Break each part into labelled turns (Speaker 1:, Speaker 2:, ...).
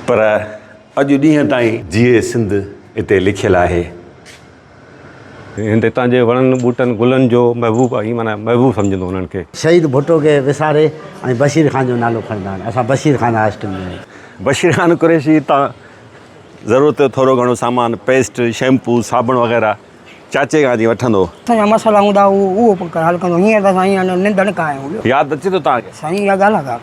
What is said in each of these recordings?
Speaker 1: پر اڄ ڏينهن تائين جيئي سنڌ اتي لکيل آهي. هند
Speaker 2: هتان جي وڻن ٻوٽن گلن جو محبوب آهي معنيٰ محبوب سمجهندو انهن کي. شهيد ڀٽو کي
Speaker 3: وساري ۽ بشير خان جو نالو کڻندا آهن اسان بشير خان هاء اسڪول ۾. بشير خان قريشي
Speaker 1: هتان ضرورت جو ٿورو گهڻو سامان پيسٽ شيمپو صابڻ وغيره چاچي کان جي وٺندو. سائين جا مسئلا هوندا
Speaker 4: هو اهو به حل ڪندو هينئر ته سائين اڃا ننڊڻ کان آهيو هو. ياد اچي ٿو توهان کي.
Speaker 1: سائين اها ڳالهه ڪا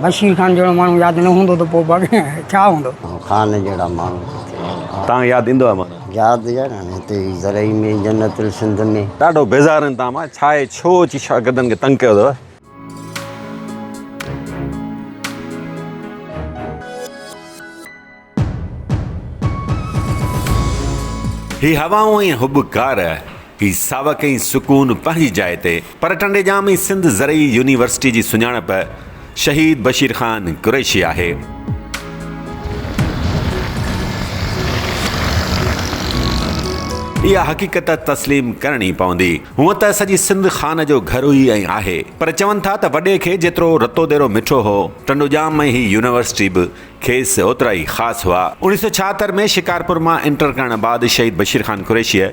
Speaker 4: بشير خان جهڙو ماڻهو ياد نه هوندو ته پوء باقي ڇا هوندو. خان جهڙا ماڻهو
Speaker 3: ڪٿي هوندا. توهان کي ياد
Speaker 1: ايندو آهي مانو. ياد يار هاڻي هتي
Speaker 3: هي زرعي ۾ جنت السنڌ ۾. ڏاڍو بيزار آهن توهان
Speaker 1: مان ڇا اهي ڇو اچي شاگردن کي تنگ ڪيو اٿو. هي هوائون ۽ حب ڪار، هي ساوڪ ۽ سڪون پنهنجي جاء تي پر ٽنڊي ڄام ۽ سنڌ زرعي يونيورسٽي جي سڃاڻپ شهيد بشير خان قريشي آهي. اها حقيقت تسليم ڪرڻي پوندي. هونء ته سڄي سنڌ خان جو گهر هئي ۽ آهي پر چون ٿا ته وڏي کي جيترو رتو ديرو مٺو هو، ٽنڊو ڄام ۽ هي يونيورسٽي به کيس اوترا ئي خاص هئا. اوڻيهه سؤ ڇاهتر ۾ شڪارپور مان انٽر ڪرڻ بعد شهيد بشير خان قريشيء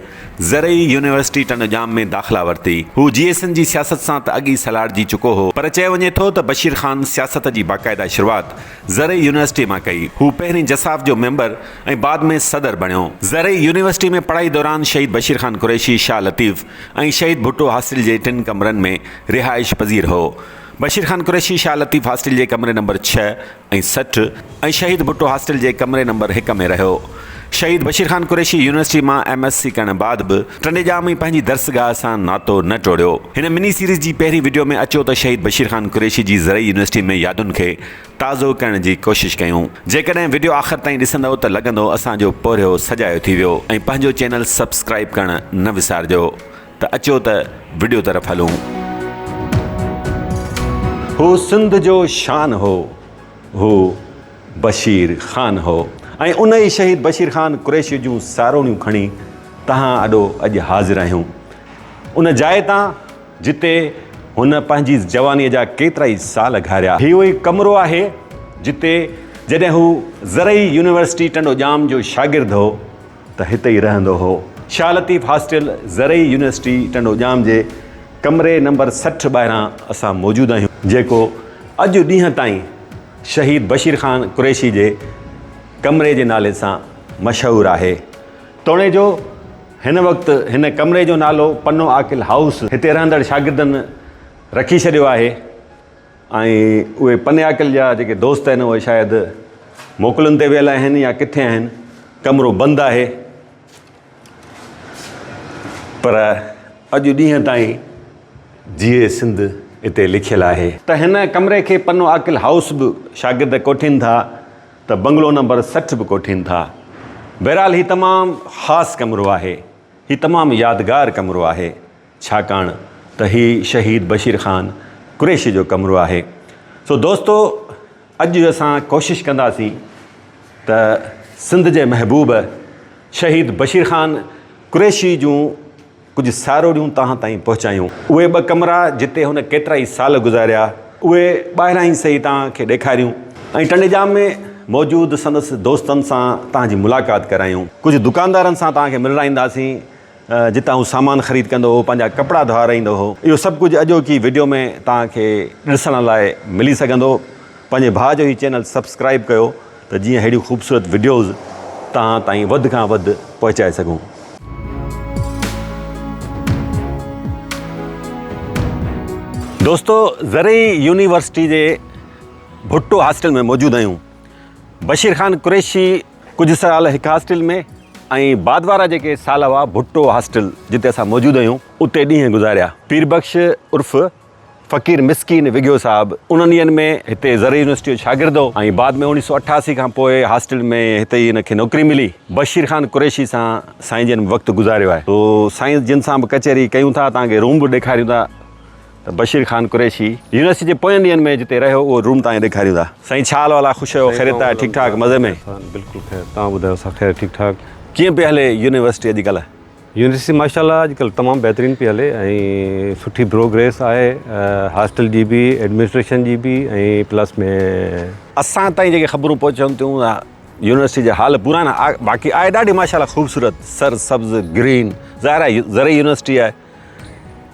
Speaker 1: زرعي يونيورسٽي ٽنڊو ڄام ۾ داخلا ورتي. هو جي ايس اين جي سياست سان ته اڳ ئي سلهاڙجي چڪو هو، پر چيو وڃي ٿو ته بشير خان سياست جي باقاعده شروعات زرعي يونيورسٽي مان ڪئي. هو پهرين جساف جو ميمبر ۽ بعد ۾ صدر بڻيو. زرعي يونيورسٽي ۾ پڙهائي دوران شهيد بشير خان قريشي شاهه لطيف ۽ شهيد ڀٽو هاسٽل جي ٽن ڪمرن ۾ رهائش پذير هو. بشير خان قريشي شاهه لطيف هاسٽل جي ڪمري نمبر ڇهه، ۽ سٺ ۽ شهيد ڀٽو هاسٽل جي ڪمري نمبر هڪ ۾ رهيو. شهيد بشير خان قريشي يونيورسٽي مان ايم ايس سي ڪرڻ بعد به ٽنڊيڄام ۽ پنهنجي درسگاهه سان ناتو نه ٽوڙيو. هن مني سيريز جي پهرين وڊيو ۾ اچو ته شهيد بشير خان قريشي جي زرعي يونيورسٽي ۾ يادن کي تازو ڪرڻ جي ڪوشش ڪيون. جيڪڏهن وڊيو آخر تائين ڏسندؤ ته لڳندو اسان جو پورهيو سجايو ٿي ويو ۽ پنهنجو چينل سبسڪرائيب ڪرڻ نه وسارجو. ته اچو ته وڊيو طرف هلون. هو سنڌ جو شان هو هو بشير خان هو ۽ ان ئي شهيد بشير خان قريشي جون ساروڻيون کڻي تهان اڏو اڄ حاضر آهيون ان جاء تان جتي هن پنهنجي جوانيء جا ڪيترائي سال گهاريا. هي اهو ئي ڪمرو آهي جتي جڏهن هو زرعي يونيورسٽي ٽنڊو ڄام جو شاگرد هو ته هتي ئي رهندو هو. شاهه لطيف هاسٽل، زرعي يونيورسٽي ٽنڊو ڄام جي ڪمري نمبر سٺ ٻاهران اسان موجود آهيون، جيڪو اڄ ڏينهن تائين شهيد بشير خان قريشي جي ڪمري جي نالي سان مشهور آهي. توڻيجو هن وقت هن ڪمري جو نالو پنو عاقل هائوس هتي رهندڙ شاگردن رکي ڇڏيو آهي. ۽ اهي پنياڪل جا جيڪي دوست آهن اهي شايد موڪلن تي ويل آهن يا ڪٿي آهن ڪمرو بند آهي پر اڄ ڏينهن تائين جيئي سنڌ اتي لکيل آهي. ته هن ڪمري کي پنو عاقل هائوس به شاگرد ڪوٺين ٿا ته بنگلو نمبر سٺ به ڪوٺين ٿا. بهرحال هي تمام خاص ڪمرو آهي. هي تمام يادگار ڪمرو آهي. ڇاڪاڻ ته هي شهيد بشير خان قريشي جو ڪمرو آهي. سو دوستو اڄ اسان ڪوشش ڪنداسين ته سنڌ جي محبوب شهيد بشير خان قريشي جون ڪجهه ساروڙيون توهان تائين پهچايون. اهي ٻه ڪمرا جتي هن ڪيترائي سال گذاريا اهي ٻاهران ئي سهي توهان کي ڏيکاريون ۽ ٽنڊيڄام ۾ موجود سندس دوستن سان توهان جي ملاقات ڪرايون. ڪجهه دڪاندارن سان توهان کي ملرائينداسين. جتان هو سامان خريد ڪندو هو، پنهنجا ڪپڙا ڌوئارائيندو هو. اهو سڀ ڪجهه اڄوڪي وڊيو ۾ توهان کي ڏسڻ لاء ملي سگهندو. پنهنجي ڀاء جو هي چينل سبسڪرائيب ڪيو ته جيئن اهڙيون خوبصورت وڊيوز توهان تائين وڌ کان وڌ پهچائي سگهون. دوستو زرعي يونيورسٽي جي ڀٽو هاسٽل ۾ موجود آهيون. بشير خان قريشي ڪجهه سال هڪ هاسٽل ۾ ۽ بعد وارا جيڪي سال هئا ڀٽو هاسٽل جتي اسان موجود هيون اتي ڏينهن گذاريا. پير بخش عرف فقير مسڪين وگهيو صاحب انهن ڏينهن ۾ هتي زرعي يونيورسٽيء جو شاگرد هو ۽ بعد ۾ اوڻيهه سؤ اٺاسي کان پوء هاسٽل ۾ هتي ئي هن کي نوڪري ملي. بشير خان قريشي سان سائين جن به وقت گذاريو آهي سو سائين جن سان به ڪچهري ڪيون ٿا توهان کي روم به ڏيکاريون ٿا. ته بشير خان قريشي يونيورسٽي جي پوين ڏينهن ۾ جتي رهيو اهو روم توهان کي ڏيکاريون ٿا. سائين ڇا حال وحال آهي خوش آهيو خيريت آهي ٺيڪ ٺاڪ مزي ۾.
Speaker 2: بلڪل
Speaker 1: خير
Speaker 2: توهان ٻڌايو
Speaker 1: اسان
Speaker 2: خير
Speaker 1: ٺيڪ
Speaker 2: ٺاڪ. ڪيئن
Speaker 1: پئي هلي يونيورسٽي
Speaker 2: اڄ
Speaker 1: ڪلهه.
Speaker 2: يونيورسٽي ماشاء الله اڄ ڪلهه تمام بهترين پئي هلي ۽ سٺي بروگريس آهي هاسٽل جي به ايڊمنسٽريشن جي به ۽ پلس ۾. اسان تائين جيڪي
Speaker 1: خبرون پهچن ٿيون اها يونيورسٽي جا حال پرانا باقي آهي ڏاڍي ماشاء الله خوبصورت سر سبز گرين ظاهر آهي زرعي يونيورسٽي آهي.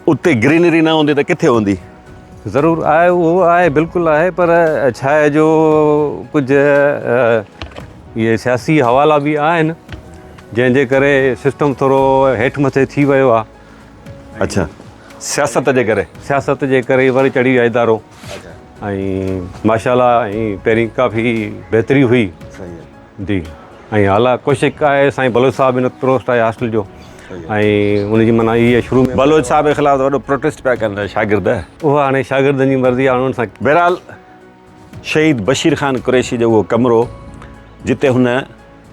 Speaker 1: اتي گرينري نه هوندي ته ڪٿي هوندي؟ ضرور آهي
Speaker 2: اهو آهي بلڪل آهي پر ڇا آهي جو ڪجهه اهي سياسي حوالا به آهن جنهن جي ڪري سسٽم ٿورو هيٺ مٿي ٿي ويو آهي. اڇا
Speaker 1: سياست جي ڪري. سياست جي ڪري وري چڙهي ويو آهي ادارو.
Speaker 2: اڇا. ۽ ماشاء الله ۽ پهرين ڪافي بهتري هئي. صحيح. جي ۽ اعليٰ ڪوشش آهي سائين بلوچ صاحب هن پروسٽ آهي هاسٽل جو ۽ ان جي معنيٰ هي آهي شروع ۾ بلوچ صاحب جي خلاف وڏو
Speaker 1: پروٽيسٽ پيا ڪن شاگرد اها هاڻي شاگردن
Speaker 2: جي مرضي هاڻي ان سان بهرحال
Speaker 1: شهيد بشير خان قريشي جو اهو ڪمرو جتي هن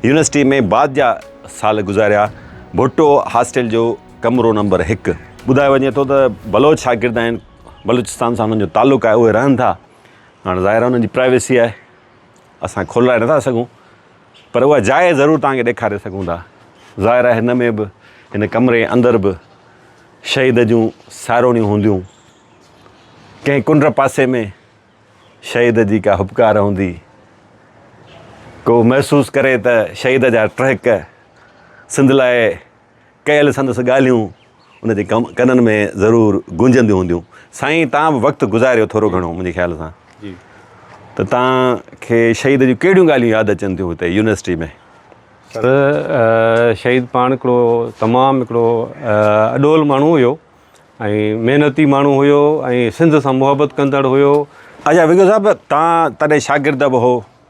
Speaker 1: يونيورسٽي ۾ بعد جا سال گذاريا ڀٽو هاسٽل جو ڪمرو نمبر هڪ ٻڌايو وڃي ٿو ته بلوچ شاگرد آهن بلوچستان سان هنن جو تعلق آهي اهي رهن ٿا هاڻي ظاهر هنن جي پرائيويسي آهي اسان کولرائي نٿا سگهون پر اها جاء ضرور توهان کي ڏيکاري سگهون ٿا. ظاهر آهي هن ۾ به هن ڪمري اندر به شهيد جون ساروڻيون هونديون. ڪنهن ڪنڊ پاسي ۾ شهيد جي ڪا هٻڪار هوندي. ڪو محسوس ڪري ته شهيد جا ٽهڪ سنڌ لاء ڪيل سندس ڳالهيون ان جي ڪنن ۾ ضرور گونجنديون هونديون. سائين تان به وقت گذاريو ٿورو گهڻو منهنجي خيال سان
Speaker 2: ته تان
Speaker 1: کي شهيد جون ڪهڙيون ڳالهيون ياد اچن ٿيون هتي يونيورسٽي ۾؟ سر
Speaker 2: شهيد پاڻ هڪڙو تمام هڪڙو اڏول ماڻهو هيو ۽ محنتي ماڻهو هيو ۽ سنڌ سان محبت ڪندڙ هيو. اچا وگو صاحب
Speaker 1: تان تڏهن شاگرد به هو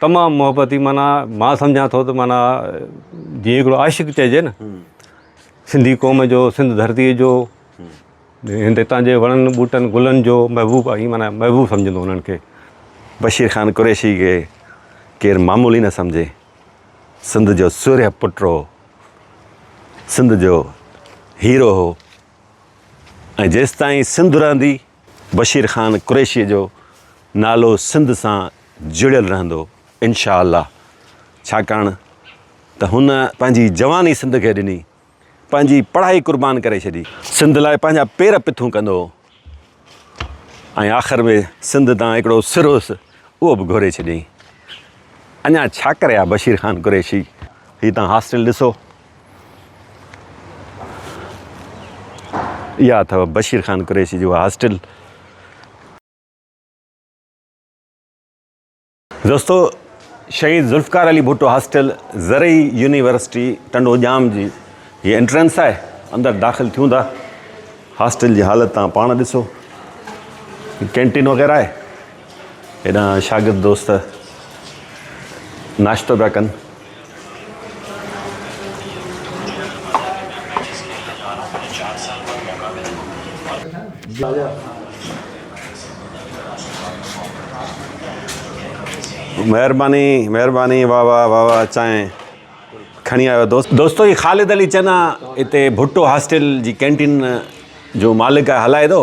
Speaker 2: تمام محبتي معنيٰ مان سمجهان ٿو ته معنيٰ جيئن هڪڙو عاشق چئجي نه سنڌي قوم جو سنڌ ڌرتي جو هند هتان جي وڻن ٻوٽن گلن جو محبوب آهي معنيٰ محبوب سمجهندو انهن کي بشير خان
Speaker 1: قريشي کي ڪير معمولي نه سمجهي سنڌ جو سورهيه پٽ هو سنڌ جو هيرو هو ۽ جيستائين سنڌ رهندي بشير خان قريشيء جو نالو سنڌ سان جڙيل رهندو انشاء الله ڇاڪاڻ ته هن پنهنجي جواني سنڌ کي ڏني پنهنجي پڙهائي قربان ڪري ڇڏي سنڌ لاء پنهنجا پير پٿون ڪندو هو ۽ آخر ۾ سنڌ تان هڪڙو سر هوس اهو به گهوري ڇڏيائين اڃا ڇا ڪري ها بشير خان قريشي هي تان هاسٽل ڏسو اها اٿو بشير خان قريشي جي اها هاسٽل. دوستو شهيد ذوالفقار علي ڀٽو هاسٽل زرعي يونيورسٽي ٽنڊو ڄام جي هي انٽرنس آهي اندر داخل ٿيون ٿا هاسٽل جي حالت تان پاڻ ڏسو ڪينٽين وغيره آهي هيڏانهن شاگرد دوست ناشتو پيا ڪن. مهرباني مهرباني واهه واهه واهه واهه چانهه کڻي آيو دوست. دوستو هي خالد علي چنا هتي ڀٽو هاسٽل جي ڪينٽين جو مالڪ آهي هلائي ٿو.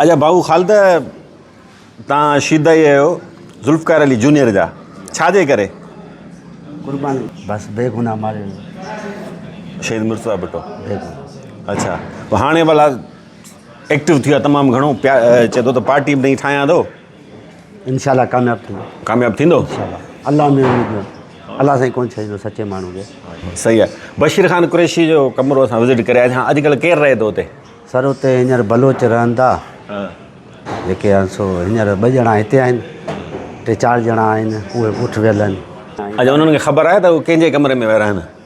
Speaker 1: اچا ڀائو خالده تان شيدائي اهيو ذوالفقار علي جونيئر جا ڇا جي ڪري. قرباني
Speaker 3: بس بي گناھ ماريو ويو.
Speaker 1: شهيد مرتضيٰ ڀٽو اچا
Speaker 3: هاڻي
Speaker 1: ڀلا ايڪٽو ٿيو تمام گهڻو چي ٿو ته پارٽي به نئين ٺاهيان ٿو. انشاء الله
Speaker 3: ڪامياب ٿيندو. ڪامياب ٿيندو انشاء الله
Speaker 1: الله ۾
Speaker 3: اميد نه الله سائين ڪون ڇڏيندو سچي ماڻهو کي. صحيح آهي
Speaker 1: بشير خان قريشي جو ڪمرو اسان وزٽ ڪري آياسي ها اڄ ڪلهه ڪير رهي ٿو اتي. سر اتي هينئر
Speaker 3: بلوچ رهن ٿا جيڪي آهن سو هينئر ٻه ڄڻا هتي آهن ٽي چار ڄڻا آهن اهي اٺ ويل آهن. اچا انهن کي خبر
Speaker 1: آهي ته هو ڪنهن جي ڪمري ۾ ويا رهن.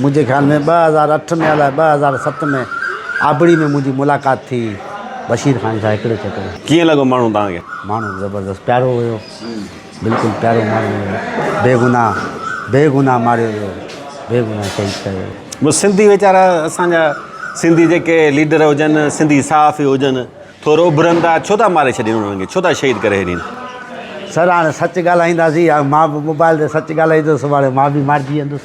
Speaker 3: منهنجي خيال ۾ ٻه هزار اٺ ۾ الاء ٻه هزار ست ۾ آبڙي ۾ منهنجي ملاقات ٿي هئي بشير خان سان هڪڙي ڇڪڙي. ڪيئن لڳو ماڻهو توهان
Speaker 1: کي؟ ماڻهو زبردست
Speaker 3: پيارو هيو بلڪل پيارو ماڻهو هيو بي گناھ بي گناھ ماريو ويو بي گناھ شهيد ڪيو ويو. بس سنڌي ويچارا
Speaker 1: اسان جا سنڌي جيڪي ليڊر هجن سنڌي صحافي هجن ٿورو اڀرن ٿا ڇو ٿا ماري ڇڏين انهن کي ڇو ٿا شهيد ڪري ڇڏين. سر هاڻي
Speaker 3: سچ ڳالهائينداسين مان به موبائل تي سچ ڳالهائيندس سڀاڻي مان به مارجي ويندس.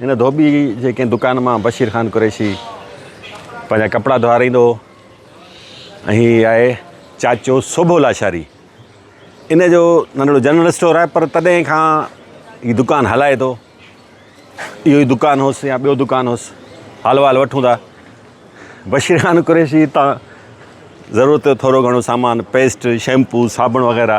Speaker 1: هن ڌوٻي جي ڪنهن دڪان مان بشير خان قريشي پنهنجا ڪپڙا ڌوارائيندو هو ۽ هي آهي چاچو سوڀو لاشاري ان جو ننڍڙو جنرل اسٽور آهي پر تڏهن کان هي دڪان هلائي ٿو اهو ئي دڪان هوس يا ٻيو دڪان هوس حال وال وٺون ٿا بشير خان قريشي تان ضرورت جو ٿورو گهڻو سامان پيسٽ شيمپو صابڻ وغيره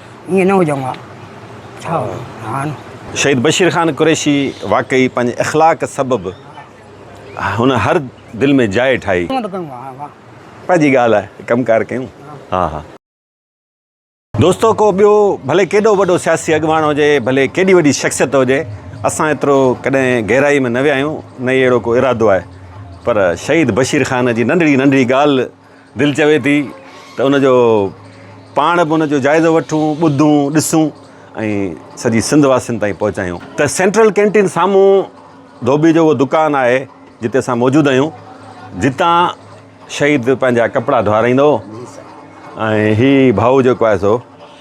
Speaker 4: ائين نه هجڻ ها ڇا هان. شهيد بشير خان
Speaker 1: قريشي واقعي پنهنجي اخلاق سبب هن هر دل ۾ جاء ٺاهي. ائين ٿو ڪيون ها ها. پنهنجي ڳالهه آهي ڪم ڪار ڪيون ها ها. دوستو ڪو ٻيو ڀلي ڪيڏو وڏو سياسي اڳواڻ هجي ڀلي ڪيڏي وڏي شخصيت هجي اسان ايترو ڪڏهن گهرائي ۾ نه ويا آهيون نه ئي اهڙو ڪو ارادو آهي پر شهيد بشير خان جي ننڍڙي ننڍڙي ڳالهه دل چوي ٿي ته ان جو پاڻ به ان جو جائزو وٺون، ٻڌون، ڏسون ۽ سڄي سنڌ واسين تائين پهچايون. ته سينٽرل ڪينٽين سامهون ڌوٻي جو اهو دڪان آهي جتي اسان موجود آهيون جتان شهيد پنهنجا ڪپڙا ڌوارائيندو هو ۽ هي ڀائو جيڪو آهي سو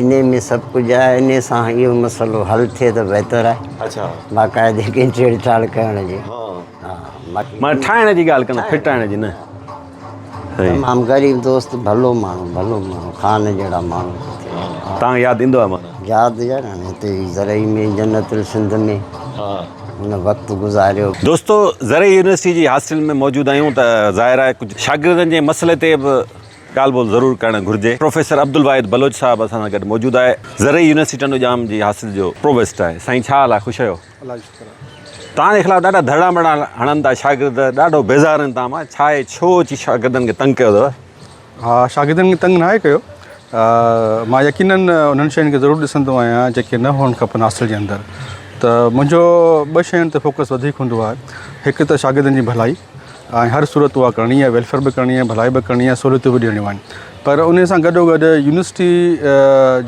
Speaker 3: انهي ۾ سڀ ڪجهه آهي انهي سان اهو مسئلو حل ٿئي ته بهتر آهي اچھا باقاعدي
Speaker 1: کي
Speaker 3: ڇيڙ ڇاڙ ڪرڻ جي ها مان ٺاهڻ
Speaker 1: جي ڳالهه ڪندو ڦٽائڻ جي نه
Speaker 3: تمام غريب دوست ڀلو ماڻهو ڀلو ماڻهو خان جهڙا ماڻهو تان ياد
Speaker 1: ايندو آهي مان ياد يار هاڻي
Speaker 3: هتي زرعي ۾ جنت السنڌ ۾ ها ان وقت گذاريو دوستو زرعي
Speaker 1: يونيورسٽي جي هاسٽل ۾ موجود آهيون ته ظاهر آهي ڪجهه شاگردن جي مسئلي تي به ڳالهه ٻولهه ضرور ڪرڻ گهرجي. پروفيسر عبدالواحد بلوچ صاحب اسان سان گڏ موجود آهي. زرعي يونيورسٽي ٽنڊو ڄام جي حاصل جو پرووسٽ آهي. سائين ڇا حال آهي خوش آهيو. الله جي شڪر آهي. توهان جي خلاف ڏاڍا ڌرڻا ٻرڻا هڻن ٿا شاگرد ڏاڍو بيزار آهن توهان مان ڇا اهي ڇو اچي شاگردن کي تنگ ڪيو اٿو. ها
Speaker 5: شاگردن کي تنگ ناهي ڪيو مان يقينن انهن شين کي ضرور ڏسندو آهيان جيڪي نه هئڻ کپن حاصل جي اندر ته منهنجو ٻه شين تي فوڪس وڌيڪ هوندو آهي هڪ ته شاگردن جي ڀلائي. ۽ هر صورت اها ڪرڻي آهي ويلفيئر به ڪرڻي آهي ڀلائي به ڪرڻي آهي سهولتون به ڏيڻيون آهن پر ان سان گڏو گڏ يونيورسٽي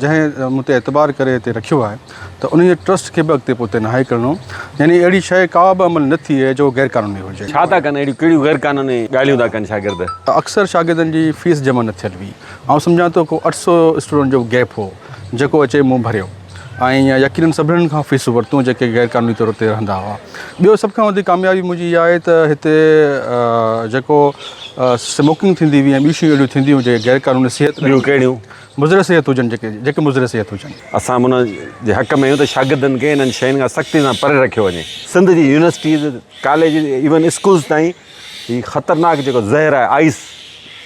Speaker 5: جنهن مون تي اعتبار ڪري هتي رکيو آهي ته ان جي ٽرسٽ کي به اڳتي پوئتي ناهي ڪرڻو يعني اهڙي شيء ڪا به عمل نه ٿئي جو غير قانوني هجي. ڇا ٿا ڪن اهڙيون ڪهڙيون غير
Speaker 1: قانوني ڳالهيون ٿا ڪن شاگرد. اڪثر شاگردن
Speaker 5: جي فيس جمع نه ٿيل هئي آئون سمجهان ٿو ڪو اٺ سؤ اسٽوڊنٽ جو گيپ هو جيڪو اچي مون ڀريو. آئين يا يقينن سڀني کان فيسون ورتون جيڪي غير قانوني طور اتي رهندا هئا. ٻيو سڀ کان وڌيڪ ڪاميابي منهنجي اها آهي ته هتي جيڪو سموڪنگ ٿيندي هئي ۽ ٻيون شيون اهڙيون ٿينديون هيون جيڪي غير قانوني صحت ڏيون ڪهڙيون؟
Speaker 1: مضر صحت هجن
Speaker 5: جيڪي جيڪي مضر صحت هجن. اسان به ان
Speaker 1: جي حق ۾ آهيون ته شاگردن کي انهن شين کان سختي سان پري رکيو وڃي. سنڌ جي يونيورسٽيز، ڪاليجز ايون اسڪولز تائين هي خطرناڪ جيڪو زهر آهي آئس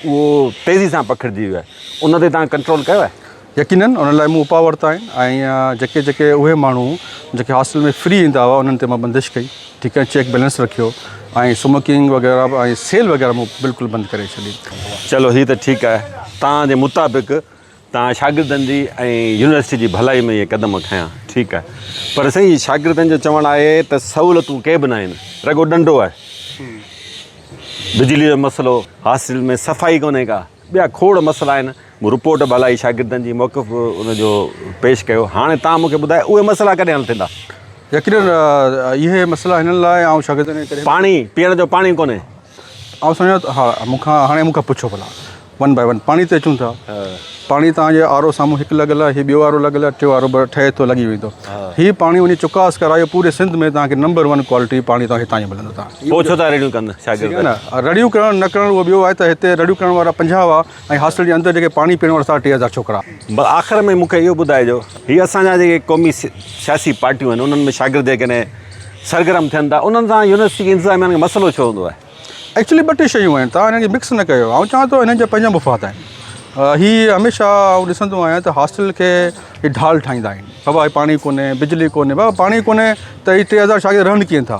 Speaker 1: اهو تيزي سان پکڙجي ويو آهي ان تي توهان ڪنٽرول ڪيو آهي؟ يقينن ان لاء مون
Speaker 5: اپاء ورتا آهن ۽ جيڪي جيڪي اهي ماڻهو جيڪي هاسٽل ۾ فري ايندا هئا انهن تي مان بندش ڪئي ٺيڪ ۽ چيڪ بيلنس رکيو ۽ سموڪنگ وغيره ۽ سيل وغيره مون بلڪل بند ڪري ڇڏي. چلو هي ته ٺيڪ
Speaker 1: آهي توهان جي مطابق توهان شاگردن جي ۽ يونيورسٽي جي ڀلائي ۾ اهي قدم کنيا ٺيڪ آهي پر سائين شاگردن جو چوڻ آهي ته سهولتون ڪي به ناهن رڳو ڏنڊو آهي بجلي جو مسئلو هاسٽل ۾ صفائي ڪونهي ڪا. ٻيا کوڙ مسئلا آهن، مون رپورٽ به هلائي، شاگردن جي موقف به ان جو پيش ڪيو، هاڻي توهان مون کي ٻڌايو اهي مسئلا ڪڏهن حل ٿيندا؟ يقينن
Speaker 5: اهي مسئلا هنن لاء آئون شاگردن کي ڪڏهن به. پاڻي، پيئڻ جو پاڻي
Speaker 1: ڪونهي. آئون سمجهان
Speaker 5: ٿو ها، مون کان هاڻي مون کان پڇو ڀلا ون باء ون پاڻي تي اچون ٿا، پاڻي توهان جي آر او سامهون هڪ لڳل آهي، هي ٻيو آر او لڳل آهي، ٽيون آر او به ٺهي ٿو لڳي ويندو، هي پاڻي وڃي چڪاس ڪرايو، پوري سنڌ ۾ توهان کي نمبر ون ڪوالٽي پاڻي توهان کي هتان ئي ملندو. پوء ڇو ٿا رڙيون ڪن
Speaker 1: شاگرد. رڙيون ڪرڻ
Speaker 5: نه ڪرڻ اهو ٻيو آهي ته هتي رڙيون ڪرڻ وارا پنجاهه هئا ۽ هاسٽل جي اندر جيڪي پاڻي پيئڻ وارا ساڍا ٽي هزار ڇوڪرا. بس آخر ۾ مون کي
Speaker 1: اهو ٻڌائجو هي اسان جا جيڪي قومي سياسي پارٽيون آهن انهن ۾ شاگرد جيڪڏهن سرگرم ٿين ٿا انهن سان يونيورسٽي جي انتظاميا کي مسئلو ڇو هوندو آهي؟
Speaker 5: ايڪچولي ٻه ٽي شيون آهن تان هنن کي مڪس نه ڪيو آئون چوان ٿو هنن جا پنهنجا مفاد آهن هي هميشه آئون ڏسندو آهيان ته هاسٽل کي هي ڍال ٺاهيندا آهن بابا هي پاڻي ڪونهي بجلي ڪونهي بابا پاڻي ڪونهي ته هي ٽي هزار شاگرد رهن ڪيئن ٿا.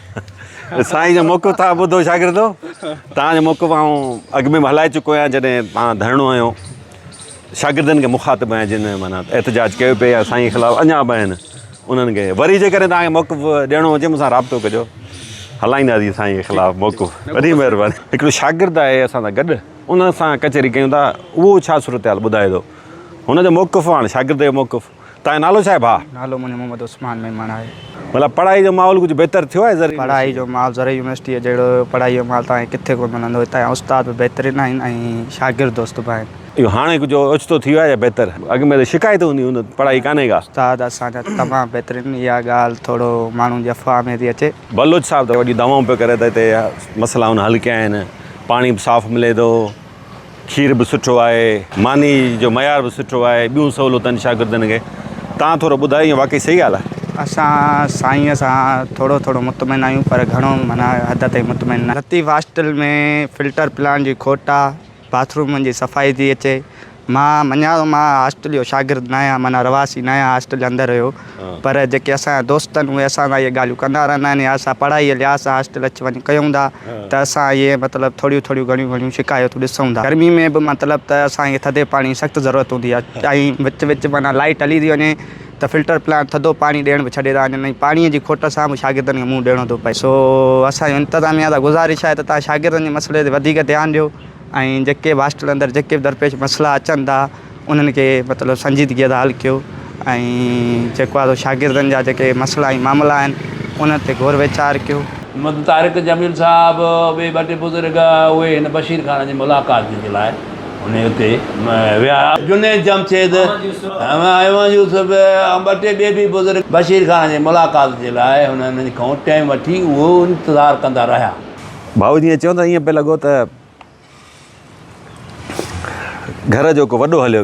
Speaker 5: سائين جو موقف تھان
Speaker 2: ٻڌو شاگردو تھان جو موقف آئون اڳ ۾ به ھلائي چڪو آھيان جڏھن تھان ڌرڻو ھنيو شاگردن کي مخاطب آھيان جن معنيٰ احتجاج ڪيو پئي يا سائين خلاف اڃا به آھن انھن کي وري جيڪڏھن تھان کي موقف ڏيڻو ھجي مون سان رابطو ڪجو ھلائينداسين سائين جي خلاف موقف وڏي مھرباني ھڪڙو شاگرد آھي اسان سان گڏ ان سان ڪچھري ڪيون ٿا اھو ڇا صورتحال ٻڌائي ٿو ھن جو موقف آھي ھاڻي شاگرد جو موقف تنهنجو نالو ڇا آهي ڀاء؟ نالو منهنجو محمد عثمان
Speaker 6: ميمڻ آهي. مطلب پڙهائي جو
Speaker 2: ماحول ڪجهه بهتر ٿيو آهي زرعي يونيورسٽي ۾؟ پڙهائي جو ماحول زرعي
Speaker 6: يونيورسٽيء جهڙو پڙهائي جو ماحول ته هاڻي ڪٿي ڪونه ملندو. هتان جا استاد به بهترين آهن ۽ شاگرد دوست به آهن. اهو هاڻي ڪجهه
Speaker 2: اوچتو ٿي ويو آهي يا بهتر؟ اڳ ۾ ته شڪايتون هونديون هن ته پڙهائي ڪانهي ڪا. استاد اسان جا تمام
Speaker 6: بهترين. اها ڳالهه ٿورو ماڻهن جي افواهه ۾ ٿي اچي. بلوچ صاحب ته وڏيون
Speaker 2: دعوائون پيو ڪري ته هتي مسئلا هن حل ڪيا آهن، پاڻي به صاف ملي ٿو. کير به سٺو آهي ماني جو معيار به سٺو آهي ٻيون سهولتن شاگردن کي تان ٿورو ٻڌايو ائين واقعي صحيح ڳالهه آهي. اسان سائين
Speaker 6: سان ٿورو ٿورو مطمئن آهيون پر گهڻو معنيٰ حد تائين مطمئن نه. لطيف هاسٽل ۾ فلٽر پلانٽ جي کوٽ آ باٿ رومن جي صفائي ٿي اچي مان مڃان ٿو مان هاسٽل جو شاگرد ناهيان معنيٰ رهواسي ناهيان هاسٽل جي اندر رهيو. پر جيڪي اسان جا دوست آهن اهي اسان سان اهي ڳالهيون ڪندا رهندا آهن يا اسان پڙهائي جي لحاظ سان هاسٽل اچي وڃي ڪيون ٿا ته اسان اهي مطلب ٿوريون ٿوريون گهڻيون گهڻيون شڪايتون ڏسون ٿا. گرمي ۾ به مطلب ته اسان کي ٿڌي پاڻي جي سخت ضرورت هوندي آهي ۽ وچ وچ معنيٰ لائيٽ هلي ٿي وڃي ته فلٽر پلانٽ ٿڌو پاڻي ڏيڻ به ڇڏي ٿا وڃن ۽ پاڻي جي کوٽ سان به شاگردن کي منهن ڏيڻو ٿو پئي. سو اسان جي انتظاميا سان گذارش آهي ته تهان شاگردن جي مسئلي تي وڌيڪ ڌيان ڏيو ۽ جيڪي به هاسٽل اندر جيڪي به درپيش مسئلا اچن ٿا انهن کي مطلب سنجيدگيء سان حل ڪيو ۽ جيڪو آهي سو شاگردن جا جيڪي مسئلا ۽ معاملا آهن انهن تي غور ويچار ڪيو. محمد طارق
Speaker 7: جميل صاحب ٻئي ٻه ٽي بزرگ اهي هن بشير خان جي ملاقات جي لاء انهي اتي ويا. جنيد جمشيد، احمد يوسف ۽ ٻه ٽي ٻئي به بزرگ بشير خان جي ملاقات جي لاء هنن کان ٽيم وٺي اهو انتظار ڪندا رهيا. ڀائو جيئن چيو
Speaker 2: ته ائين پئي لڳو ته گهر جو ڪو وڏو هليو ويو.